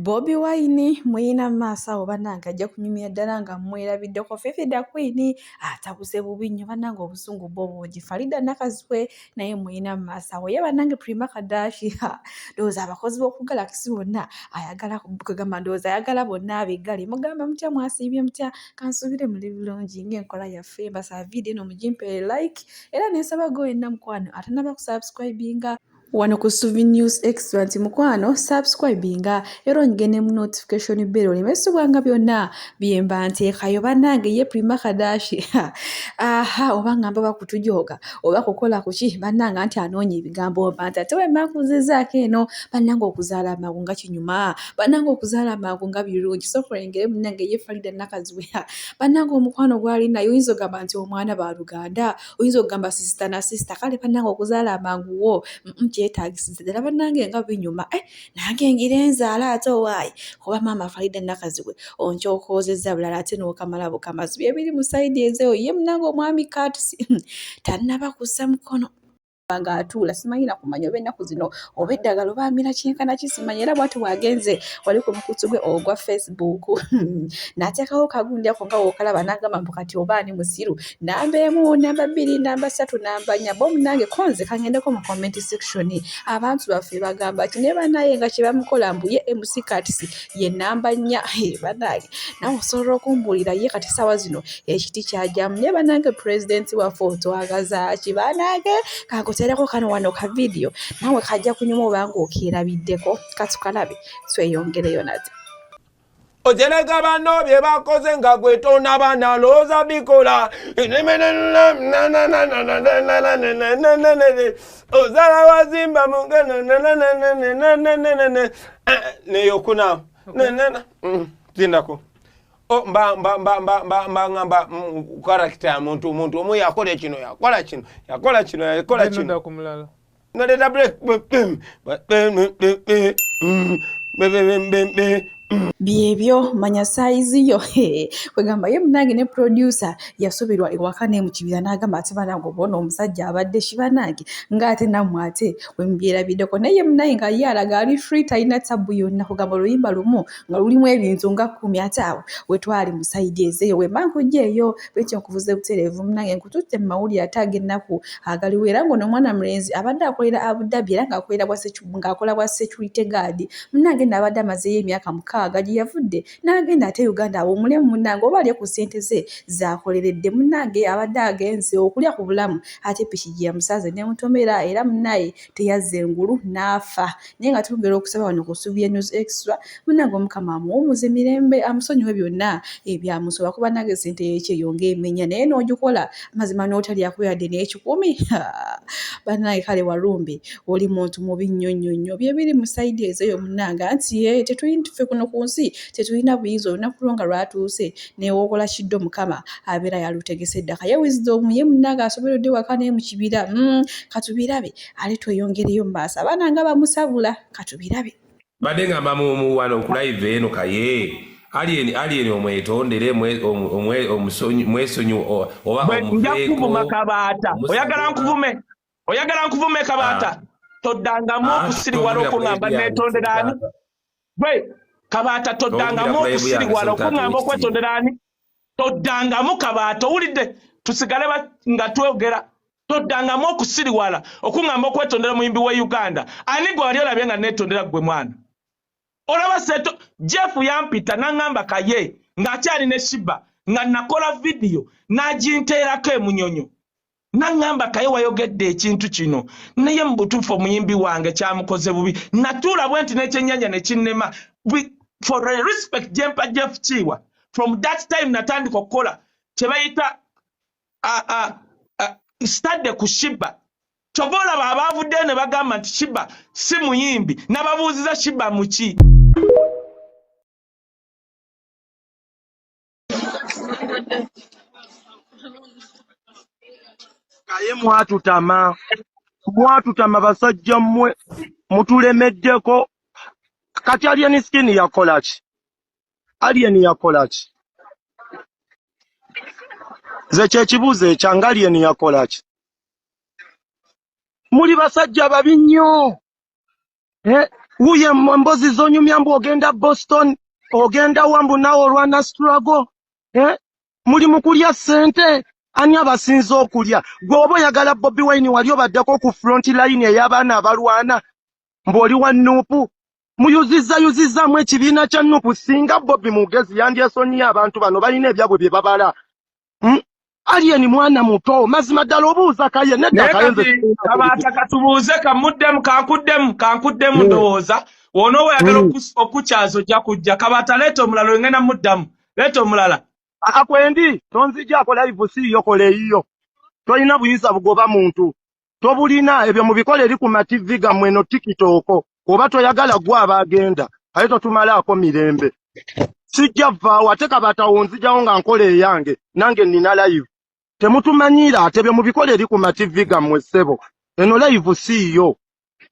Bobi Wine muyina maaso awo banange ajja kunyumya ddala nga mwerabiddeko Fifi da Queen atabuze bubi nnyo banange obusungu bwo bungi Farida Nakazwe naye muyina maaso awo ye banange Prima Kadashi ha ndowooza abakozi b'oku Galaxy bonna ayagala kugamba ndowooza ayagala bonna abiggale mugamba mutya mwasiibye mutya kansuubire muli bulungi ng'enkola yaffe mbasaba vidiyo eno mugimpeere like era nensaba gwe wenna mukwano atanaba kusubscribinga wano ku suvi news extra nti mukwano subscribinga era onyige ne mu notification bell oleme subwanga byonna byemba nteekayo bannange ye prima kadashi aha oba ngamba bakutujooga oba kukola kuki bannange anti anoonya ebigambo mba nti ate wemakuzizaako eno bannange okuzaala amangu nga kinyuma bannange okuzaala amangu nga birungi sokulengere munnange ye farida nakaziwe bannange omukwano gwali naye oyinza ogamba nti omwana baluganda oyinza okugamba sisita na sisita kale banange okuzaala amangu wo kyetagisiza ddala banange nga binyuma eh, nange ngira enzaala ate owaayi kuba maama faida nakazibwe onkyokoozezza bulala ate nokamala bukamazi byebiri mu saidi ezeyo ye munange omwami katisi tanaba kussa mukono okulaba nga atuula simanyi nakumanya oba ennaku zino oba eddagala oba amira kyenkana kisimanyi era bwati wagenze wali ku mukutu gwe ogwa facebook nateekawo kagundi ako nga wokalaba nagamba mbu kati oba ani musiru namba emu namba bbiri namba ssatu namba nya bomu nange konze kangendeko mu comment section abantu baffe bagamba ti ne banaye nga kyebamukola mbuye emusikatisi ye namba nnya banange nawe osobola okumbuulira ye kati saawa zino ekiti kyajamu naye banange pulezidenti waffe otwagazaaki banange kakutereko kano wano ka vidiyo nawe kajja kunyuma obanga okeerabiddeko katukalabe tweyongereyo nate ojeleka bano bye bakoze nga gwe tonaba nalowooza bikola ozala wazimba neyokuna zindako mbangamba karakita ya muntu omuntu omu yakola kino yakola kino yakola kino yakola kino noleta break byebyo manya saizi yo kwegamba ye munange ne producer yasubirwa ewaka ne mukibira nagamba ati banange obona omusajja abadde kibanange ngaate namwe ate wemubyerabideko naye munange nga ye alaga ali free talina tabu yonna kugamba oluyimba lumu nga lulimu ebintu nga kumi ate awo wetwali musaidi ezeyo wembankuja eyo bwekyo nkuvuze buterevu munange nkututte mumawulire ate agennaku agaliwo era ngaono omwana mulenzi abadde akolera abudabi era ngaakolera bwa ngakola bwa security guard munange nno abadde amazeeyo emyaka mukaaga gye yavudde n'agenda ate uganda awummulemu munange oba alye ku ssente ze zaakoleredde munange abadde agenze okulya ku bulamu ate piki gye yamusanze ne mutomera era munaye teyazze ngulu n'afa naye nga twongera okusaba wano ku ssubi ya news extra munange omukama amuwummuze mirembe amusonyiwe byonna ebyamusoba kuba nange ssente yekyeyonga emenya naye n'ogikola mazima n'otalyako yadde n'ekikumi banaye kale walumbe oli muntu mubi nnyo nnyo nnyo byebiri mu sayidi ezo eyo munanga nti ye tetuyintufe kuno ku nsi tetulina buyinza olunaku lwo nga lwatuuse newokola kiddo mukama abeera yalutegese eddaka ye wisdom ye munanga asoberedde waka naye mu kibira mm, katubirabe ale tweyongereyo mu maaso abaana nga bamusabula katubirabe mbadde ngamba muwano kulaiva eno kaye alien alien omwetondere mwesonyi oba nja kuvuma kabaata oyagala nkuvume oyagala nkuvume kabaata ah. toddangamu ah, okusiriwala okuŋamba netondera ani gwe kabaata toddangamu okusiriwala okuŋamba okwetondera ani toddangamu kabaata owulidde tusigale nga twogera Toddangamu okusiriwala okungamba okwetondera omuyimbi wa Uganda. Ani gwe wali olabye nga neetondera ggwe mwana? Olaba seeto Jeff yampita n'angamba kaye ng'akyali ne Shiba nga nakola vidiyo n'aginteerako e Munyonyo n'angamba kaye wayogedde ekintu kino naye mu butuufu omuyimbi wange kyamukoze bubi natuula bwe nti n'ekyennyanja ne kinnema for a respect gyempa Jeff Kiiwa from that time natandika okukola kye bayita sitadde ku shiba kyova olaba abaavuddeyo ne bagamba nti shiba si muyimbi nababuuziza shiba muki naye mwatutama mwatutama basajja mmwe mutulemeddeko kati alien skin yakola ki Alien yakola ki? Nze kyekibuuzo ekyange Alien yakola ki? Muli basajja babi nnyo. Eh, wuyo embozi zonyumya mbu ogenda Boston, ogenda wa mbu nawe olwana struggle. Eh, muli mu kulya ssente ani abasinza okulya? Gwe oba oyagala Bobi Wine wali obaddeko ku front line ey'abaana abalwana mbu oli wa nuupu? muyuzizayuzizamu ekibiina kya nupu singa bobi mugezi yandyesonyiye abantu bano balina ebyabwe bye babala hmm? aliyeni mwana muto mazima ddala obuuza kaye nedakabaata katubuuze kamuddemu kankuddemu kankuddemu hmm. ndowooza wona owayagala hmm. okukyaza ojja kujja kabaata leeta omulala engenda muddamu leeta omulala akwendi tonzijako laivu siiyo kola eyiyo tolina buyinza bugoba muntu tobulina ebyo mubikola eri ku mativi gammwe eno tikitooko oba toyagala gwe aba agenda aye totumalaako mirembe sijja vaawo ate kabatawo nzijawo nga nkola eyange nange nina layivu temutumanyiira ate bye mubikola eri ku mativi gammwe ssebo eno layivu siiyo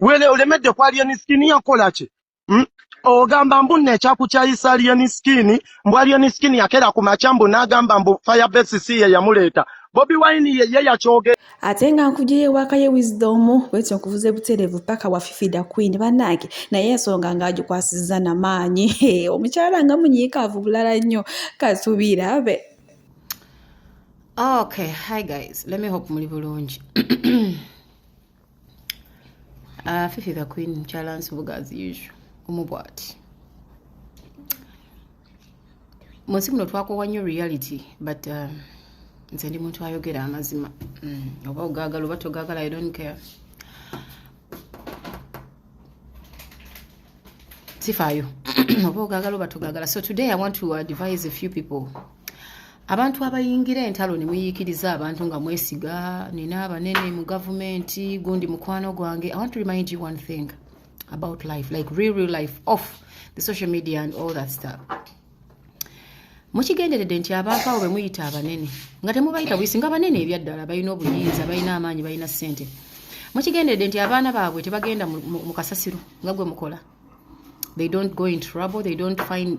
wele olemedde kwali enisikini yakola ki Hmm? ogamba mbu nno ekyakukyayisa alien skin mbu alien skin yakera ku makya mbu n'agamba mbu firebase si ye yamuleeta bobi wine ye ye yakyoge ate nga nkujeyo ewaaka ye wisdom bwetyo nkuvuze buterevu paka wafifida queen banaage naye ensonga ng'agikwasizza na maanyi omukyala nga munyiikaavu bulala nnyo katubirabe okay hi guys let me hope muli bulungi Uh, Fifi the Queen mukyala nsibuga as usual omu bwati mu nsi muno twakowa nnyo reality but uh, nze ndi muntu ayogera amazima mm, oba ogagala oba togagala i don't care sifaayo oba ogagala oba togagala so today i want to advise a few people abantu abayingira entalo ne muyiikiriza abantu nga mwesiga nina abanene mu gavumenti gundi mukwano gwange i want to remind you one thing about life like real real life off the social media and all that stuff mukigenderedde nti abantu abo be muyita abanene nga temubayita buyisi nga banene ebyaddala balina obuyinza balina amaanyi balina ssente mukigenderedde nti abaana baabwe tebagenda mu kasasiro nga gwe mukola they don't go in trouble they don't find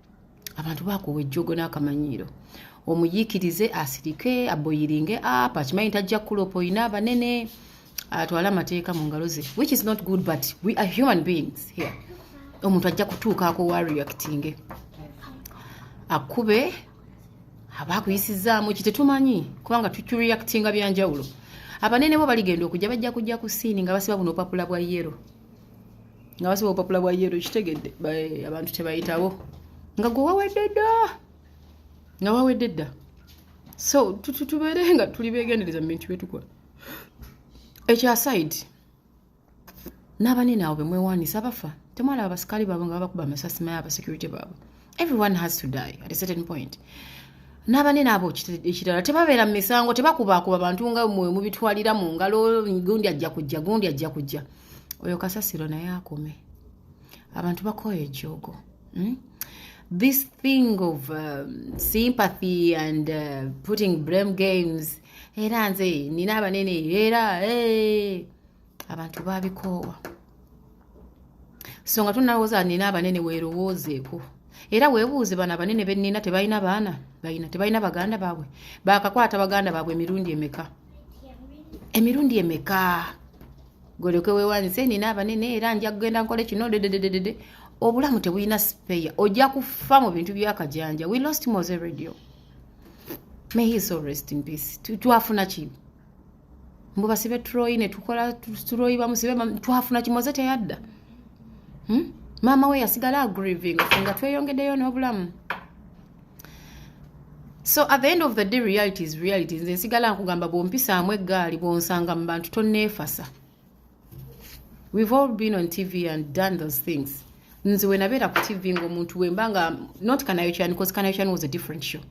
abantu bakuwa ejjogo n'akamanyiiro omuyiikirize asirike aboyiringe apa akimanyi tajja kukulopa olina abanene atwale amateeka mu ngalo ze which is not good but we are human beings here omuntu ajja kutuukaako wa reactinge akube aba akuyisizaamu ki tetumanyi kubanga tureactinga byanjawulo abanene bo baligenda okujja bajja kujja ku siini nga basiba buno opapula bwa yero nga basiba obupapula bwa yero kitegedde abantu tebayitawo nga gwe wawedde dda nga wawedde dda so tubeere nga tuli begendereza mu bintu byetukola ekyasaidi n'abanene abo bemwewanisa bafa temwalaba basikaali baabwe nga babakuba amasasi maye abasecurity baabwe everyone has to die at a certain point n'abanene abo ekirala tebabeera mu misango tebakubaakuba bantu nga mwe mubitwalira mu ngalo gundi ajja kujja gundi ajja kujja oyo kasasiro naye akome abantu bakooya ejjoogo hmm? this thing of um, sympathy and uh, putting blame games era nze nina abanene era hey. Eh, abantu babikoowa so nga tunalowooza nina abanene weerowoozeeko era weebuuze bano abanene benina tebalina baana balina tebalina baganda baabwe bakakwata baganda baabwe emirundi emeka emirundi emeka golyoke wewanise nina abanene era nja kugenda nkole kino dedededede obulamu tebulina sipeya ojja kufa mu bintu byakajanja we lost mose radio may his soul rest in peace twafuna ki mbu basibe tuloyi ne tukola tuloyi bamusibe twafuna kimoze teyadda hmm? maama we yasigala agrieving nga tweyongedeyo n'obulamu so at the end of the day reality is reality nze nsigala nkugamba bwompisaamu eggaali bwonsanga mu bantu tonneefasa we've all been on tv and done those things nze wenabeera ku tv ngaomuntu wemba nga not kanayokyani bcause kanayokyani was a different show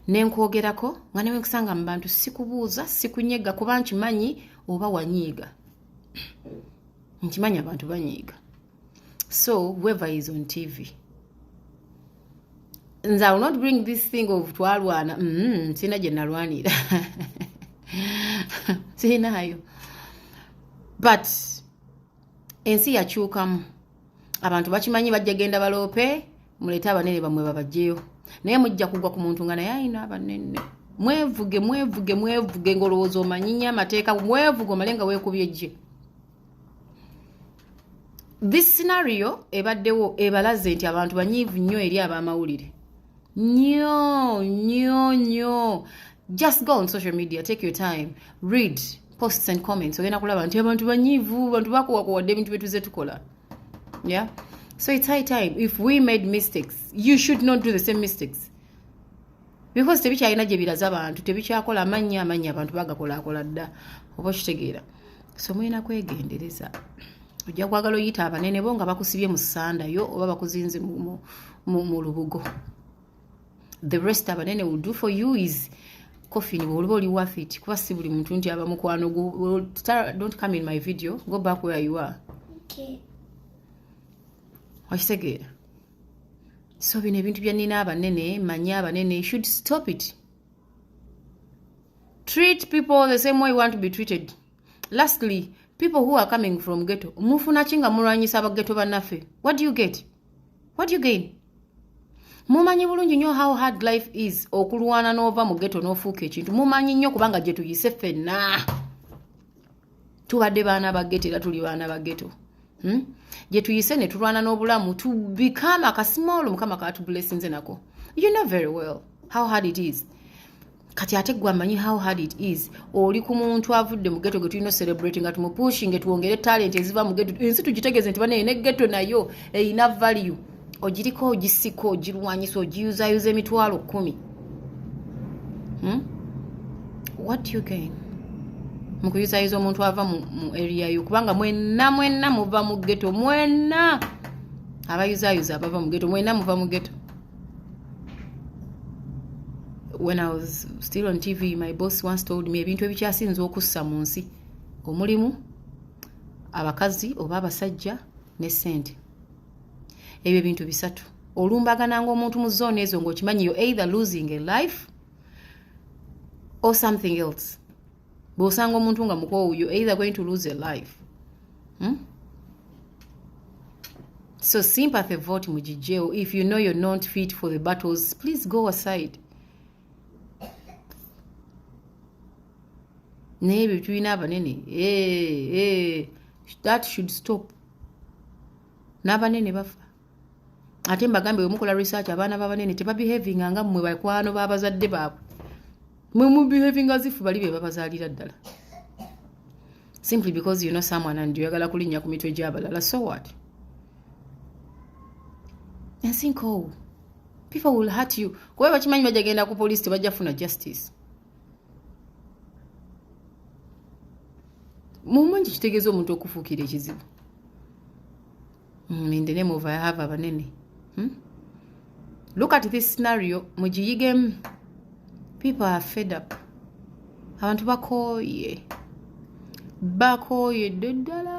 nenkwogerako nga newe nkusanga mu bantu sikubuuza sikunyega kuba nkimanyi oba wanyiiga nkimanyi abantu banyiiga so whoever is on tv nze iwill not bring this thing of twalwana mm, mm-hmm, sirina gye nalwanira sirinaayo but ensi yakyukamu abantu bakimanyi bajja genda baloope muleete abanene bamwe babajjeyo naye mujja kugwa ku muntu nga naye ayina abanene mwevuge mwevuge mwevuge ngaolowooza omanyinyo amateeka mwevuge omale nga weekubye jje this scenario ebaddewo ebalaze nti abantu banyiivu nnyo eri ab'amawulire nnyo nnyo nnyo just go on social media take your time read posts and comments ogenda kulaba nti abantu banyiivu bantu bakuwakuwadde ebintu byetuze tukola yeah so it's high time if we made mistakes you should not do the same mistakes because tebikyalina gye biraza abantu tebikyakola amannya amannya abantu bagakolaakola dda oba okitegeera so mulina kwegendereza ojja kwagala oyita abanene bo nga bakusibye mu sanda yo oba bakuzinze mu lubugo the rest abanene will do for you is coffin bwoliba oli wafit kuba si buli muntu nti aba mukwano don't come in my video go back where you are okitegeera okay. so bino ebintu bya nina abanene manya abanene you should stop it treat people the same way you want to be treated lastly people who are coming from ghetto mufuna ki nga mulwanyisa abageto bannaffe what do you get what do you gain mumanyi bulungi nnyo how hard life is okulwana n'ova mu ghetto n'ofuuka ekintu mumanyi nnyo kubanga gye tuyise ffenna tubadde baana ba geto era tuli baana ba geto hmm? gye tuyise ne tulwana n'obulamu tubikaama akasimoolo mukama katubulesinze nako you know very well how hard it is kati ate gwe amanyi how hard it is oli ku muntu avudde mu geto getulina celebrate nga tumupushinge twongere talent eziva mu geto ensi tugitegeeze nti banaye ne geto nayo erina value ogiriko ogisika ogirwanyisa ogiyuzayuza emitwalo kumi hmm? what you gain mukuyuzayuza omuntu ava mu area yo kubanga mwenna mwenna muva mu geto mwenna abayuzayuza abava mu geto mwenna muva mu geto when i was still on tv my boss once told me ebintu ebikyasinza okussa mu nsi omulimu abakazi oba abasajja ne sente ebyo bintu bisatu olumbagananga omuntu mu zone ezo ngaokimanyi yo either losing a life or something else bwosanga omuntu nga mukoowu yo either going to lose a life hmm? so sympathy vote mugijjeewo if you know you're not fit for the battles please go aside naye ebyo tulina abanene eh, eh, that should stop n'abanene bafa ate mbagambye wemukola research abaana babanene tebabehavinga nga mmwe bakwano babazadde baabwe mwe mubehavinga zifu bali be babazaalira ddala simply because you know someone and oyagala kulinnya ku mitwe gy'abalala so what ensi nkoowu people will hurt you kuba bakimanyi bajja genda ku police tebajja funa justice mumanyi kitegeeza omuntu okufuukira ekizibu mm, in the name of i have abanene hmm? look at this scenario mugiyigemu people are fed up abantu bakooye bakooye dde ddala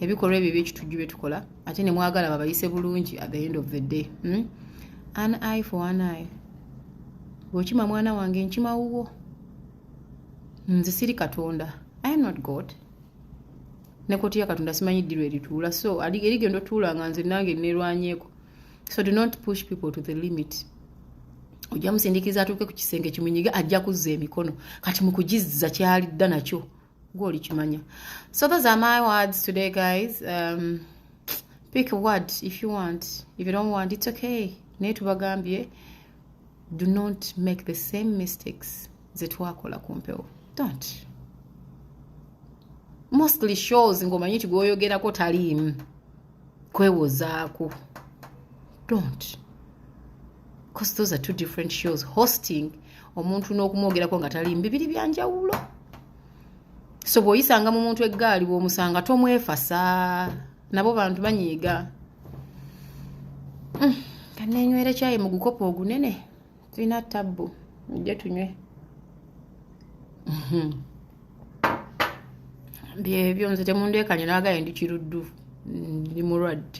ebikolwa ebyo ebyekitujju bye tukola ate ne mwagala babayise bulungi at the end of the day hmm? an eye for an eye bwokima mwana wange nkima wuwo nze siri katonda i am not god nekotiya katonda simanyi ddirwa erituula so erigenda otuula nga nze nange nerwanyeeko so do not push people to the limit ojja musindikiza atuuke ku kisenge kimunyige ajja kuzza emikono kati mukugizza kyalidda nakyo gwoli kimanya so those are my words today guys um, pick a word if you want if you don't want it's okay naye tubagambye do not make the same mistakes zetwakola ku mpewo don't mostly shows ng'omanyi nti gwoyogerako taliimu kwewozaako don't because those are two different shows hosting omuntu n'okumwogerako nga tali mbibiri byanjawulo so bw'oyisanga mu muntu eggaali bw'omusanga tomwefasa nabo bantu banyiiga mm, kaneenywera kyayi mu gukopo ogunene tulina tabbu mujje tunywe mhm. byebyo nze temundeekanye naagaye ndi kiruddu ndi mulwadde